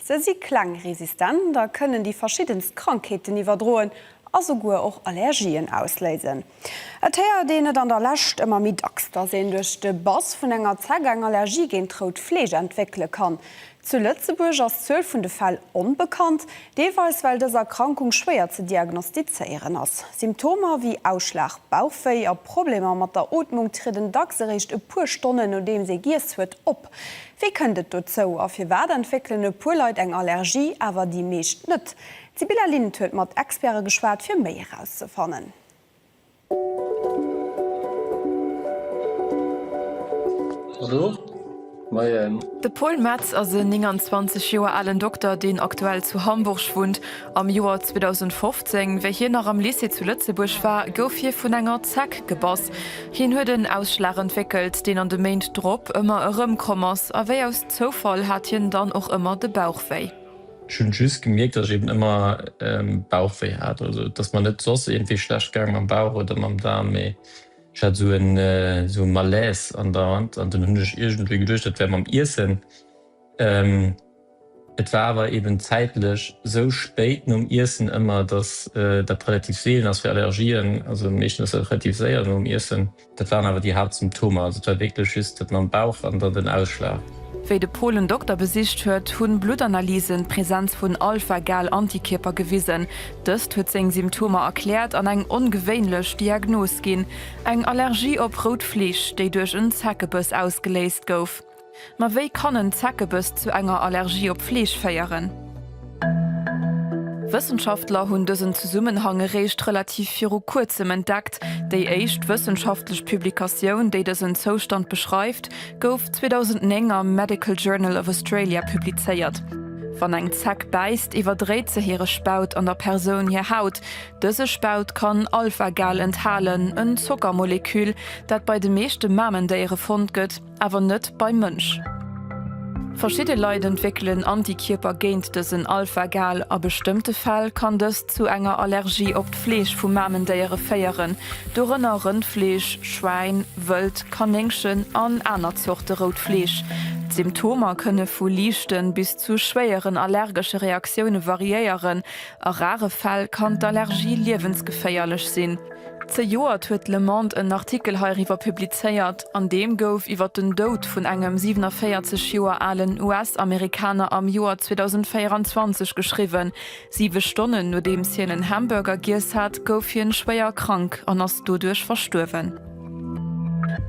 Se si kleng, resistent a kënnen déi verschiddenst Krankheeten iwwerdroen a souguer och Allergien ausléisen. Et héiert een et an der Lescht ëmmer méi dacks, dass een duerch de Bass vun enger Zeck eng Allergie géint rout Fleesch entwéckele kann. Zu Lëtzebuerg ass d'Zuel vun de Fäll onbekannt, deelweis well dës Erkrankung schwéier ze diagnostizéieren ass. Symptomer wéi Ausschlag, Bauchwéi a Problemer mat der Ootmung trieden dacks eréischt e puer Stonnen nodeems ee giess huet op. Wéi kënnt et dozou a firwat entwéckelen e puer Leit eng Allergie, awer déi meescht net? D'Sibylla Lind huet mat Experte geschwat, fir méi erauszefannen. De Paul Metz ass e 29 Joer alen Dokter, deen aktuell zu Hamburg wunnt Am Joer 2015, wéi hien nach am Lycée zu Lëtzebuerg war, gouf hie vun enger Zeck gebass. Hien huet en Ausschlag entwéckelt, deen an de Méint drop ëmmer erëmkomm ass, a wéi aus Zoufall hat hien dann och ëmmer de Bauch wéi. Ech hunn just gemierkt, dass ech eben ëmmer Bauch wéi hat. Also et ass mer net soss iergendwéi schlecht gaang mam Bauch oder mam Daarm, mee ech hat esou e Malaise andauernd. An dunn hunn ech iergendwéi geduecht, dat wär mam Iessen. Et war awer eben zäitlech sou spéit nom Iessen ëmmer, dass dat relativ seelen ass fir Allergien. Also meeschtens ass dat relativ séier nom Iessen. Dat waren awer déi Haaptsymptomer. Also et war wierklech just dat mam Bauch an dann den Ausschlag. Wéi de Paul en Dokter besicht huet, hunn Bluttanalysen d'Präsenz vun Alpha-Gal-Antikierper gewisen. Dëst huet seng Symptomer erkläert an eng ongewéinlech Diagnos ginn, eng Allergie op rout Fleesch, déi duerch en Zeckebiss ausgeléist gouf. Ma wéi kann en Zeckebiss zu enger Allergie op Fleesch féieren? Wëssenschaftler hunn dësen Zesummenhang eréischt relativ viru kuerzem entdeckt. Déi éischt wëssenschaftlech Publikatioun, déi dësen Zoustand beschreift, gouf 2009 am Medical Journal of Australia publizéiert. Wann eng Zeck bäisst, iwwerdréit se hire Spaut an der Persoun hir Haut. Dëse Spaut kann Alpha-Gal enthalen, en Zockermoleküll, dat bei de meeschte Mamendéiere fonnt gëtt. awer net beim Mënsch. Verschidde Leit entwéckelen Antikierper géint dësen Alpha-Gal. A bestëmmte Fäll kann dëst zu enger Allergie op d'Fleesch vu Mamendéiere féieren, dorënner Rëndfleesch, Schwäin, Wëld, Kanéngchen an aner Zorte rout Fleesch. D'Symptomer kënne vu liichte bis zu schwéieren allergesche Reaktioune variéieren. A rare Fäll kann d'Allergie liewensgeféierlech sinn. Zejoert huet d'Le Monde en Artikel heiriwwer publizéiert, an deem gouf iwwer den Doud vun engem 47 Joer alen US-Amerikaner am Joer 2024 geschriwwen. Siwe Stonnen nodeems hien en Hamburger giess hat, gouf hien schwéier krank an ass doduerch verstuerwen.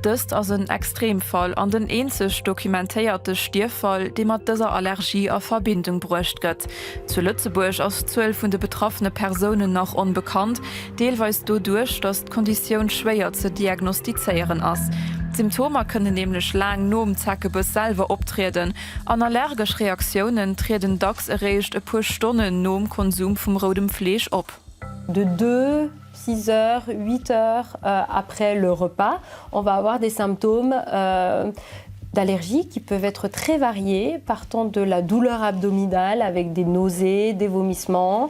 Dëst ass en Extremfall an den eenzeg dokumentéierte Stierffall, dee mat dëser Allergie a Verbindung bruecht gëtt. Zu Lëtzebuerg ass d'Zuel vun de betraffene Persounen nach onbekannt. Deelweis doduerch, datt d'Konditioun schwéier ze diagnostizéieren ass. D'Symptomer kënnen nämlech laang nom Zeckebiss selwer optrieden an allergesch Reaktiounen trieden dacks eréischt e puer Stonnen nom Konsum vum roudem Fleesch op. De deux, six heures, huit heures après le repas, on va avoir des symptômes d'allergie qui peuvent être très variés, partant de la douleur abdominale avec des nausées, des vomissements,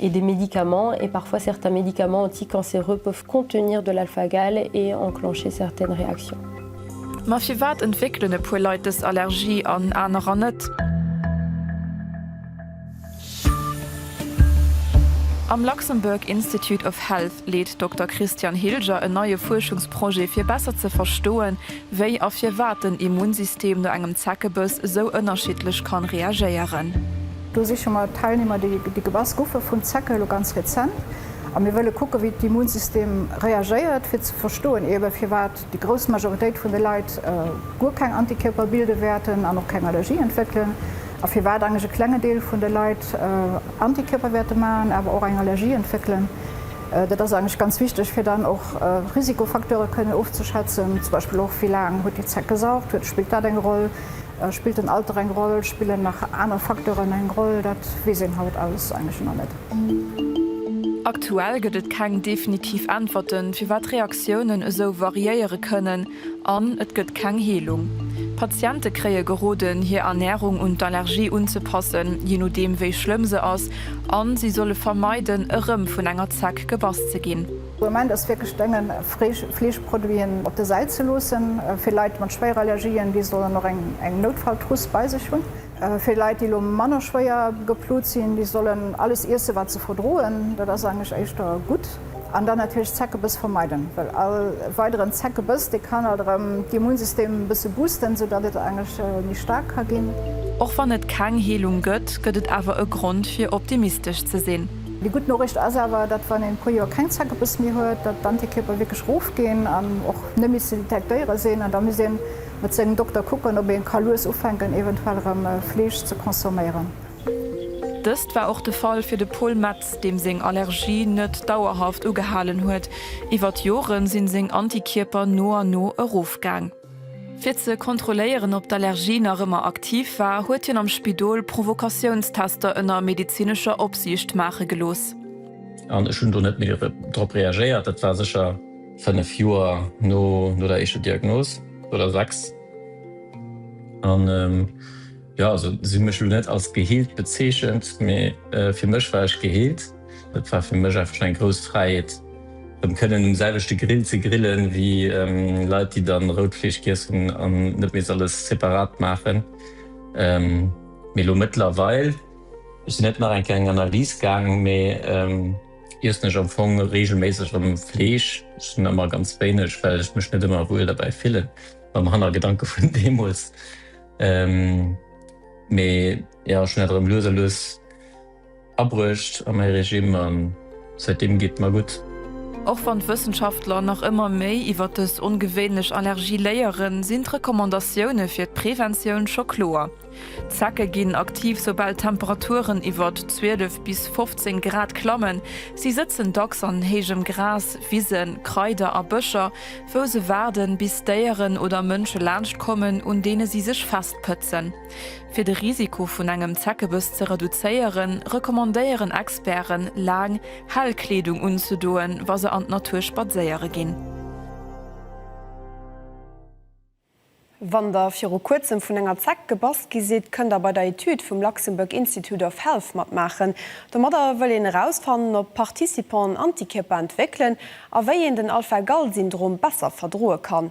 et des médicaments et parfois certains médicaments anticancéreux peuvent contenir de l'alpha-gal et enclencher certaines réactions. Ma firwat entwéckelen e puer Leit dës Allergie an anerer net? Am Luxembourg Institute of Health leet Dokter Christian Hilger en neie Fuerschungsprojet fir besser ze verstoen, wéi a firwat den Immunsystem no engem Zeckebëss esou ënnerschiddlech kann reagéieren. Do siche mer Teilnehmer, déi gebass goufe vun Zecke, elo ganz rezent. A mir wëlle kucken, wéi d'Immunsystem reagéiert, fir ze verstoen, eebe firwat déi grouss Majoritéit vun de Leit guer keng Antikierper bilde wäerten an och keng Allergie entwéckelen, a firwat eigentlech e klenge Deel vun de Leit Antikierper wäerte maachen, awer och eng Allergie entwéckelen. Dat ass eigentlech ganz wichteg, fir dann och Risikofacteure kënnen ofzeschätzen, zum Beispill och, wéi laang huet déi Zeck gesaugt, spillt dat eng Roll? Spillt den Alter eng Roll? Spillen nach aner Facteuren eng Roll? Dat weess een haut alles eigentlech nach net. Aktuell gëtt et keng definitiv Äntwerten, firwat Reaktiounen esou variéiere kënnen, an et gëtt keng Heelung. Patiente kréie geroden, hir Ernärung un d'Allergie unzepassen, jee nodeem wéi schlëmm se ass, a si solle vermeiden, erëm vun enger Zeck gebass ze ginn. De Moment ass wierklech drénge Fleeschproduiten op der Säit ze loossen. Fir Leit mat Schwéierallergien, déi sollen och eng Noutfalltruss bei sech hunn. Fir Leit, déi elo manner schwéier geplut sinn, déi sollen alles iessen, wat se verdroen. Dat ass eigentlech éischter gutt. An dann natierlech Zeckebiss vermeiden, well all weideren Zeckebiss, dee kann alt erëm d'Immunsystem e bësse boosten, sou datt et eigentlech méi staark ka ginn. Och wann et keng Heelung gëtt, gëtt et awer e Grond fir optimistesch ze sinn. Déi gutt Noriicht ass awer, datt wann een e puer Joer keng Zeckebiss méi huet, datt d'Antikierper wierklech erofginn an och net méi ze detektéiere sinn. An da misst ee mat sengem Dokter kucken, ob ee ka lues ufänken eventuell erëm Fleesch ze consomméieren. Dëst war och de Fall fir de Paul Metz, deem seng Allergie net dauerhaft ugehalen huet. Iwwer d'Jore sinn seng Antikierper no an no erofgaang. Fir ze kontrolléieren, ob d'Allergie nach ëmmer aktiv war, huet hien am Spidol Provokatiounstester ënner medezinescher Opsiicht maache gelooss. An ech hunn do net méi drop reagéiert. Dat war sécher fënnef Joer no der éischter Diagnos, oder sechs. An jo, se hu mech elo net als geheelt bezeechent, mee fir mech war ech geheelt. Et war fir mech einfach eng grouss Fräiheet rëm kënnen um selwechte Grill ze grillen wéi Leit déi dann rout Fleesch giess hunn an net misst alles separat maachen. Mee elo mëttlerweil, ech sinn net nach eng Kéier eng Analyse gaang, mee iessen ech am Fong reegelméisseg rëm Fleesch. Ech hunn ëmmer ganz wéineg, well ech mech net ëmmer wuel derbäi fillen, mam Hannergedanke vun deemools. Mee jo, ech hunn dat erëm lues a lues Abruecht a mäi Regime a säitdeem geet mer gutt. Och wann d'Wëssenschaftler nach ëmmer méi iwwer dës ongewéinlech Allergie léieren, sinn d'Recommandatioune fir d'Preventioun scho kloer. D'Zecke ginn aktiv, soubal d'Temperaturen iwwert 12 bis 15 Grad klammen. Si sëtzen dacks an héijem Gras, Wisen, Kraider a Bëscher, wou se waarden, bis Déieren oder Mënsche laanscht kommen, un deene si sech festpëtzen. Fir de Risiko vun engem Zeckebëss ze reduzéieren, recommandéieren Experten, laang, hell Kleedung unzedoen, wa se an d'Natur spadséiere ginn. Wann der viru kuerzem vun enger Zeck gebass gi sidd, kënnt der bei der Etüd vum Luxembourg Institute of Health matmaachen. Domadder wëll een erausfannen, ob d'Participanten Antikierper entwéckelen a wéi een den Alpha-Gal-Syndrom besser verdroe kann.